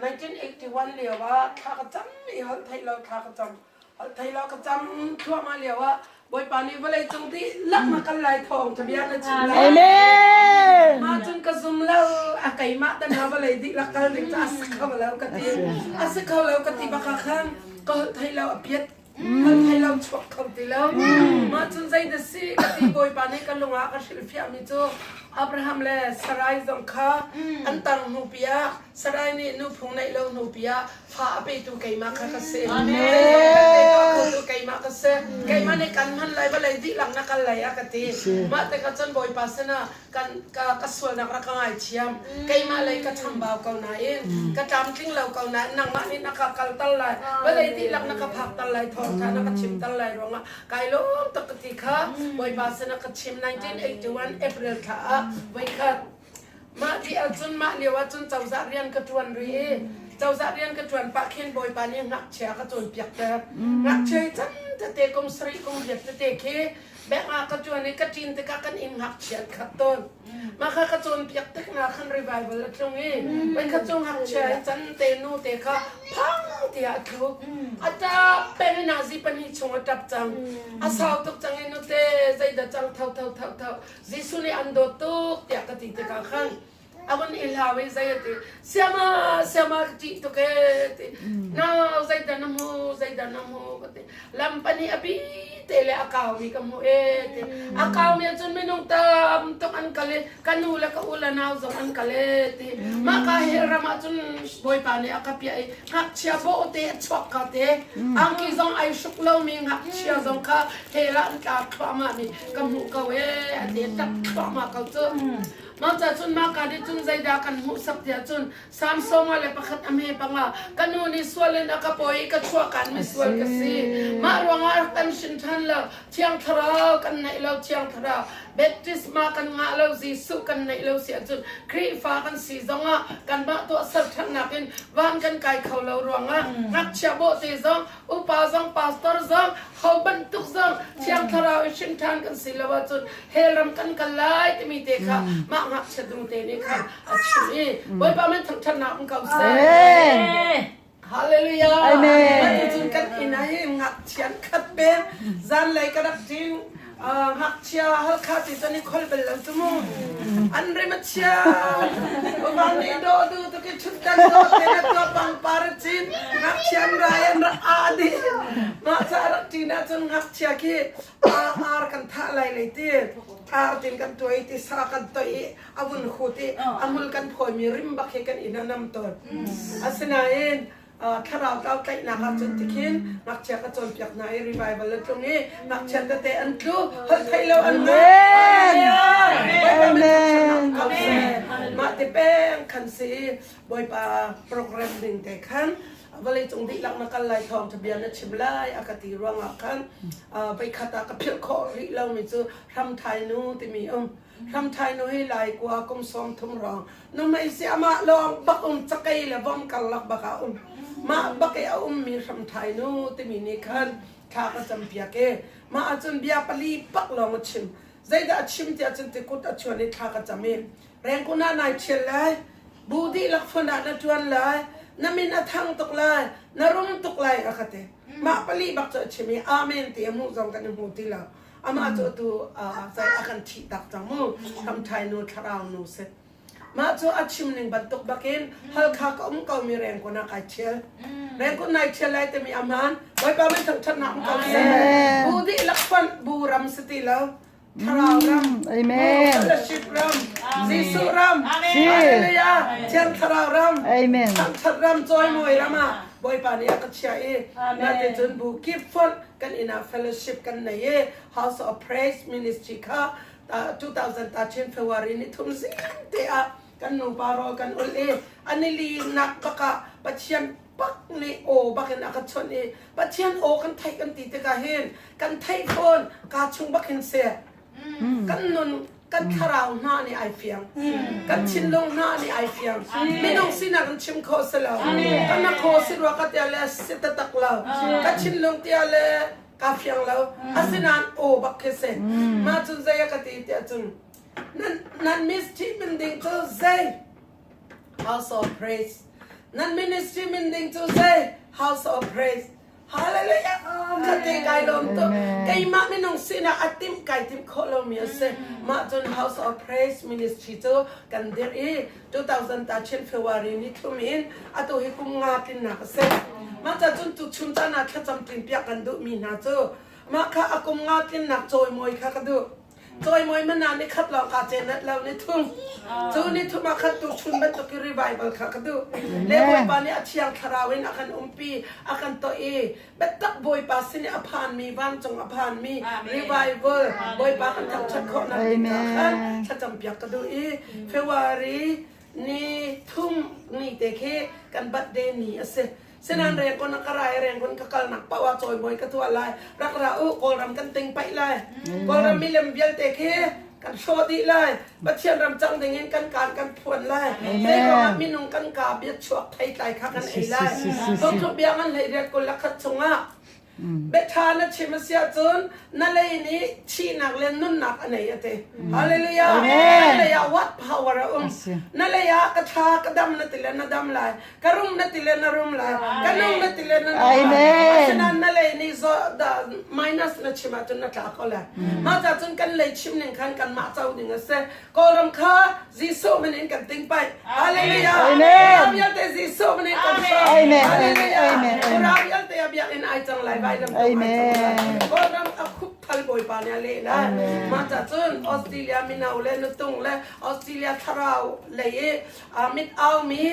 1981 lioah thla ka cam i holh theih lo thla ka cam holh thei lo ka cam thluahmah lioah Bawipa nih vawlei cung di lak na kal lai thawng ka bia na chim lai Amen ma cun ka zum lo a keimah dan na vawlei di la kal ding ca a si kho lo ka ti a si kho lo ka ti baka khan ka holh thei lo a piat kan thei lam chuak kho ti lo. Mah cun zei na si ka ti Bawipa nih ka lungah ka hrilhfiahmi cu Abraham le Sarai zong kha an tar hnu piah Sarai nih nu phung neih lo hnu piah fa a petu keimah kha ka si. Zeizong vialte tuahkhotu keimah ka si. Keimah nih kan hman lai vawlei dihlak na kal lai a ka ti. Mah tikah cun Bawipa sinah Kan ka ka sualnak rak ka ngaithiam. Keimah lei ka chambau ko nain ka tlamtling lo ko nain nangmah nih na ka kalter lai, vawlei dihlak na ka phakter lai, thawngṭha na ka chimter lai ruangah kai lawm tuk ka ti kha Bawipa sin ah ka chim. 1981 April thla ah voikhat mah ti ahcun mah lio ahcun cozah rian ka ṭuan rih i cozah rian ka ṭuan pah khin Bawipa nih ngakchia ka cawnpiakter. Ngakchia i can tete kum sarih kum riat tete khi Bank ah ka ṭuan i ka ṭin tikah kan inn ngakchiat kha a tawn. Mah kha ka cawnpiak tik hna khan revival a tlung i voikhat cu ngakchia i can te nute kha phang tiah a thluk. A ṭap peng i nazi pahnih chung a ṭap cang. A sau tuk cang i nute zeidah cang tho tho tho tho. Jesuh nih an dawt tuk tiah ka ti tikah khan a vun i hlau i zei ati siama siama ṭih tuk e ti no zeidan na mu zeidan na mu ka ti lam pani api te le a kau mi ka mu e ti a kau mi cun minung tam tuk an kal i ka nu le ka u le nau zong an kal e ti ma ka he ram ah cun bawipa nih a ka pia i ngakchia bo te a chuak ka te angki zong ai hruk lo mi ngakchia zong kha hela an tla thluahma mi ka mu ko e a ti tak thluahma ko cu Cucaah cun mahka nih cun zeidah kan hmuhsak tiah cun Samsonga le pakhat a hme panga ka nu nih sual in a ka pawi i ka chuahkan mi sual ka si mah ruangah rak kan hrin ṭhan lo thiang thlarau kan neih lo thiang thlarau baptisma kan ngah lo Jesuh kan neih lo si ahcun Khrihfa kan si zongah kanmah tuahser ṭhannak in van kan kai kho lo ruangah ngakchia bawhte zong Upa zong pastor zong ho bantuk zong thiang thlarau i hring ṭhan kan si lo ahcun hell ram kan kal lai timi te kha mah ngakchia tung te nih khan a chim i Bawipa min thangṭhatnak um ko seh. Hallelujah. Amen. Atu cun kan inn ah hin ngakchian khat ber zanlei ka rak ṭing. ngakchia halkha ti tan i khol bel lo tu mu an rim a chia umar ni do du tu ki chut tan do te na to bang par chin ngakchia rai an ra a di ma cha ra ti na chun ngakchia ki ar ar kan tha lai le ti ar tin kan toi ti sa kan toi avun khu ti amul kan phoi mi rim bak he kan ina nam ton asinain thlarau tlau tlaihnak ah cun tikhin ngakchia ka cawnpiak hna i revival a tlung i ngakchia tete an tlu holh theih lo an amen mah te peng khan si bawipa program ding te khan vale cung di lak na kal lai thawng tha bia na chim lai a ka ti ruangah khan vai khata ka philh khawh rih lo mi cu ram thai nu timi um Ramthai nu hi lai kua kum sawm thum rong numei si amah lawng bak um cakei le vom karlak bak a um mah bak i a um mi hramthai nu timi nih khan thla ka cam piak e mah ahcun bia pali bak lawng a chim zeidah a chim tiah cun tikut a chuan i thla ka cam i rengkuna nai thial lai bu dihlak fun ah na tuan lai na min a thang tuk lai na rum tuk lai a ka te mah pali bak cu a chim i amen ti a hmuh zong kan i hmu ti lo amah cu tu cai a kan thih tak cang mu thamthai nu thlarau nu si mah cu a chim ning bantuk bakin halkha ka um ko mi rengkon a kai thiel rengkon nai thiel lai te mi aman bawipa min thang that na um ko si bu di lakpan bu ram siti lo thlarau ram amen fellowship ram Jesu ram hallelujah thiang thlarau ram amen thang that ram choi moi rama boipa ni aka chia i na te chun bu keep fun kan inn ah fellowship kan nei i House of Praise Ministry kha 2013 February ni thum zian te ah kan nupa rawl kan ul i anili nak bakah Pathian pak ni aw bakin aka chon i Pathian aw kan theih kan ti tikah hin kan theih fawn ka chung bakin se kan nun kan thlarau hna nih ai fiang kan thinlung hna nih ai fiang minung sinak in chim kho si lo ka nak kho si rua ka tia le si tatak lo ka thinlung tia le ka fiang lo asinain aw bak khi se ma cun zai ka ti tia cun nan nan ministry min ding cu zai house of praise nan ministry min ding cu zai house of praise Hallelujah! Ka te kai lom tu. Keimah minung sinak a tim kai tim kho lomi a si. Mah cun House of Praise Ministry cu kan dirh i 2000 ta Chin February ni thlum in atu hi kum nga tlinnak a si. Mah ca cun tuchum caan ah thlacam tlin piak kan duhmi hna cu mah kha a kum nga tlinnak cawimawi kha ka duh. Cawimawi man ah nikhat lawng kaa cenet lo nithum. Cu nithum ah khan tuchun bantuk i revival kha ka duh. Le Bawipa nih a thiang thlarau in a kan umpi, a kan toh i biatak Bawipa sin i a phanmi vancung a phanmi revival Bawipa kan thangṭhat khawhnak ding ah khan thlacampiak ka duh i February ni thum ni te khi kan bat de ni a si sinan rengkon a karai rengkon ka kal nak pawa choi moi ka thua lai rak ra u kawlram kan ting pai lai kawlram milem vialte khi kan hro di lai pathian ram chang ding in kan kan kan phuan lai mei kongah minung kan ka bia chuak thai tlai kha kan ei lai thong thum biang an lei riat kul lakhat chungah Biaṭha na chim a si ahcun na lei nih thihnak le nunnak a nei a ti. Hallelujah! Na lei ah what power a um? Na lei ah ka tha, ka dam na ti le na dam lai. Ka rum na ti le na rum lai. Ka nung na ti le na nung lai. Asinain na lei nih minus na chim ahcun na tla ko lai. Mah cun kan lei chim ning khan kanmah co ding a si. Kawlram kha Jesuh min in kan ting pai. Hallelujah. Ram vialte Jesuh min in kan song. Hallelujah. Ram vialte a biakinn ai cang lai vai ram. Amen. Kawlram a khup thal bawipa nih a leh na. Mah ca cun Australia mino le nutung le Australia thlarau lei i mit au mi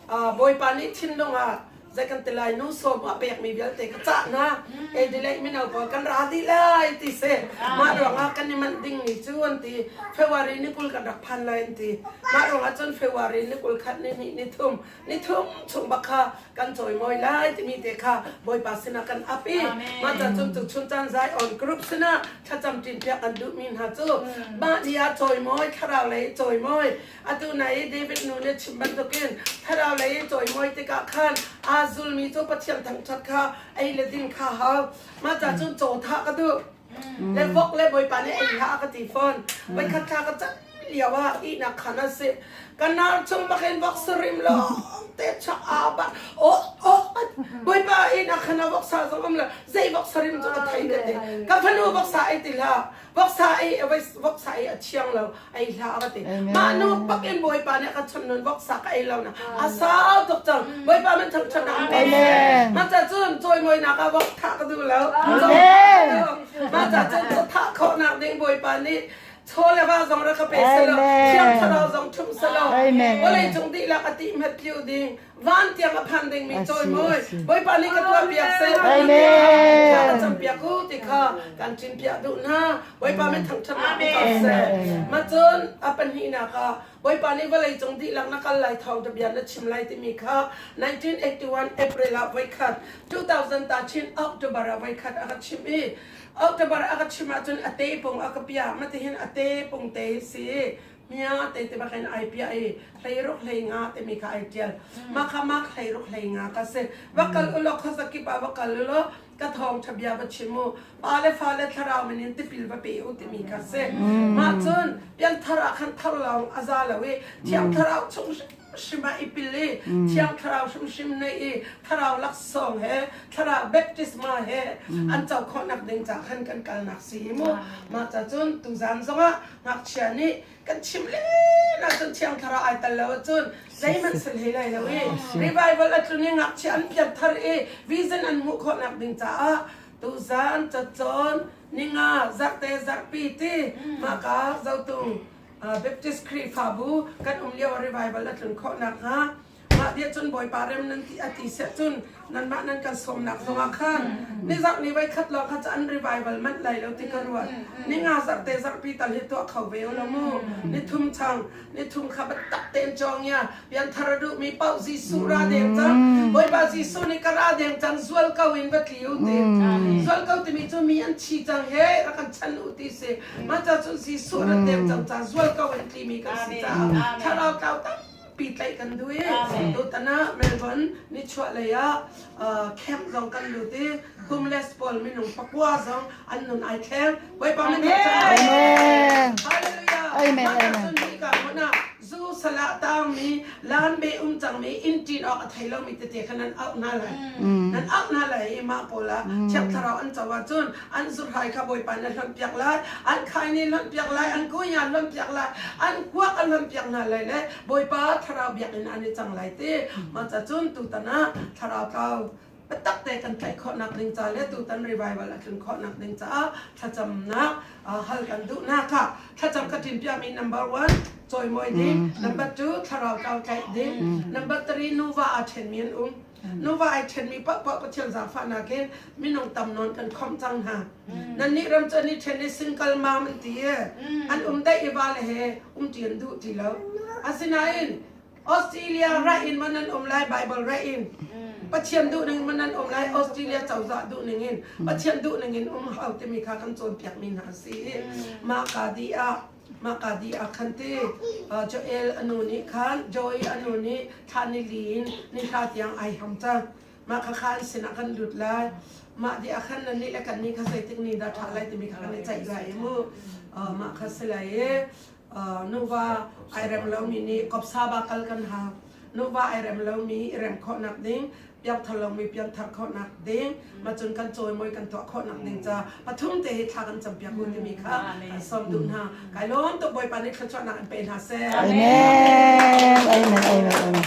bawipa nih thinlung ah Zei kan ti lai nu sawm a pekmi vialte ka cah hna. Ei delay mino pawl kan ra dih lai ti si. Mah ruangah kan i manh ding ni cu an ti. February ni kul kan rak phan lai an ti. Mah ruangah cun February ni kul khat ni hnih ni thum ni thum chung bak kha kan cawimawi lai timi te kha Bawipa sinah kan ap i mah caan cun tuchun caan Zion group sinah thlacam ṭinpiak an duhmi hna cu mah ni ah cawimawi thlarau lei cawimawi atu na i David nu nih chim bantukin thlarau lei i cawimawi tikah khan aa zulmi cu Pathian thangṭhat kha ei le din kha hau mah ca cun caw thah ka duh le vok le bawipa nih ei hlah ka ti fawn voikhat thla ka cat lio ah ihnak khan a si ka nar chung bakin vok surim lawng te chak a ba oh oh bawipa ihnak khan a voksa zong am le zei vok sarim cu ka thei bete ka fanu voksa ei tila voksa ei voksa ei a thiang lo ei hla a va ti mah nu pak in bawipa nih ka chun nun voksa ka ei lo na a sau tuk cang bawipa min thang chun amen ma cha cun choi moi nak a vok tha ka du lo ma cha cun cho tha kho nak ding bawipa nih chole wa zong ra ka pe selo thiang thlarau zong thum selo bolei chung di la ka ti met liu ding van tiang a phan dingmi cawimawi bawipa nih ka tuah piak sei a cam piak u ti kha kan ṭim piak duh hna bawipa min thangṭhatnak pe ko seh ma cun a pahnihnak ah bawipa nih vawlei cung dihlak na kal lai thau ta bia na chim lai timi kha 1981 April ah voikhat 2000 ta chin October ah voikhat a ka chim i October a ka chim ahcun a te pung a ka pia matihin a te pung te si mia te te bakin ai pia i hleiruk hlei nga te mi kha ai tial ma kha mak hleiruk hlei nga ka se va kal ulo khasaki pa va kal ulo ka thong thabia va chimu pa le fa le thlarau min in tipil va pe u ti mi ka se ma chun pian thara khan thar long aza lawi thiang thlarau chung shima ipil i thiang thlarau shim shim nei i thlarau laksong he thlarau baptisma he an cho khawnak ding cha khan kan kal nak si mu ma cha chun tu zan zongah ngakchia nih kan chimh len ahcun thiang thlarau ai tel lo ahcun zeihmanh sel hlei lai lo i revival a tlun i ngakchia an piat thar i vision an hmuh khawhnak ding caah tuzan cacawn ninga zarhte zarhpi ti maka zotung Baptist Khrihfabu kan um lio revival a tlun khawh nak hnga Mah tiah cun Bawipa rem nan ti a ti siah cun nanmah nan kan sawmnak zongah khan nizarh ni voi khat lawng kha ca an revival manh lai lo ti ka ruah. Ni nga zarh te zarhpi tal hi tuah kho ve u law mu. Ni thum chang, ni thum kha biatak tein cawngia, pianthar a duhmi paoh Jesuh ra deng cang. Bawipa Jesuh nih ka ra deng cang zual ko in va tli u ti. Zual ko timi cu mi an thi cang he rak kan chan u ti si. Mah ca cun Jesuh rat deng cang ca zual ko in tlimi kan si caah thlarau tlau tak pehtlaih kan duh i tutan ah Melbourne nichuahlei ah camp zong kan lut i kumles pawl minung pakua zong an nun ai thleng Bawipa min Amen Amen Amen zu salah tangmi lan be um cangmi in ṭin awk a thei lomi tete kha nan auh hna lai nan auh hna lai i mah pawl ah thiap thlarau an co ahcun an zurhai kha bawipa nih a hlonhpiak lai an khaini hlonhpiak lai an kunya hlonhpiak lai an kuak a hlonhpiak hna lai le bawipa thlarau biakinn an i cang lai ti maca cun tutan ah thlarau tlau biatak te kan tlaih khawhnak ding ca le tutan revival a tlun khawhnak ding caah thlacamnak hal kan duhnak kha thlacam ka tim piami number one cawimawi ding mm. number two thlarau tlau tlaih ding mm. number three nuva a ṭhenmi an um nuva ai ṭhenmi paohpaoh Pathian zaangfahnak hi minung tam nawn kan khom cang hna. Nannih ram cu an i ṭhen i singkal mam an ti i an um daih i vale he umṭi an duh ti lo. Asinain Australia ra in man an um lai Baibal ra in Pathian duhning in man an um lai Australia cozah duhning in Pathian duhning in um hau timi kha kan cawnpiakmi hna si i mah ka di ah Mahka di ah khan ti Joel a nu nih khan Joy a nu nih thla nili in ni thla tiang ai hang cang mah kha khan sinah kan lut lai mah di ah khan nannih le kan nih kha zeitik ni dah ṭha lai timi kha kan i ceih lai mu mah kha si lai i nuva ai rem lomi nih kopsa ba kal kan ha nuva ai rem lomi i rem khawhnak ding piangthar langmi piangthar khawhnak ding macun kan cawimoi kan tuah khawhnak ding ca pathum te hi thla kan cam piak u timi kha sawm duh hna kai lawm tuk bawipa nih thluachuahnak in pe hna seh amen amen amen amen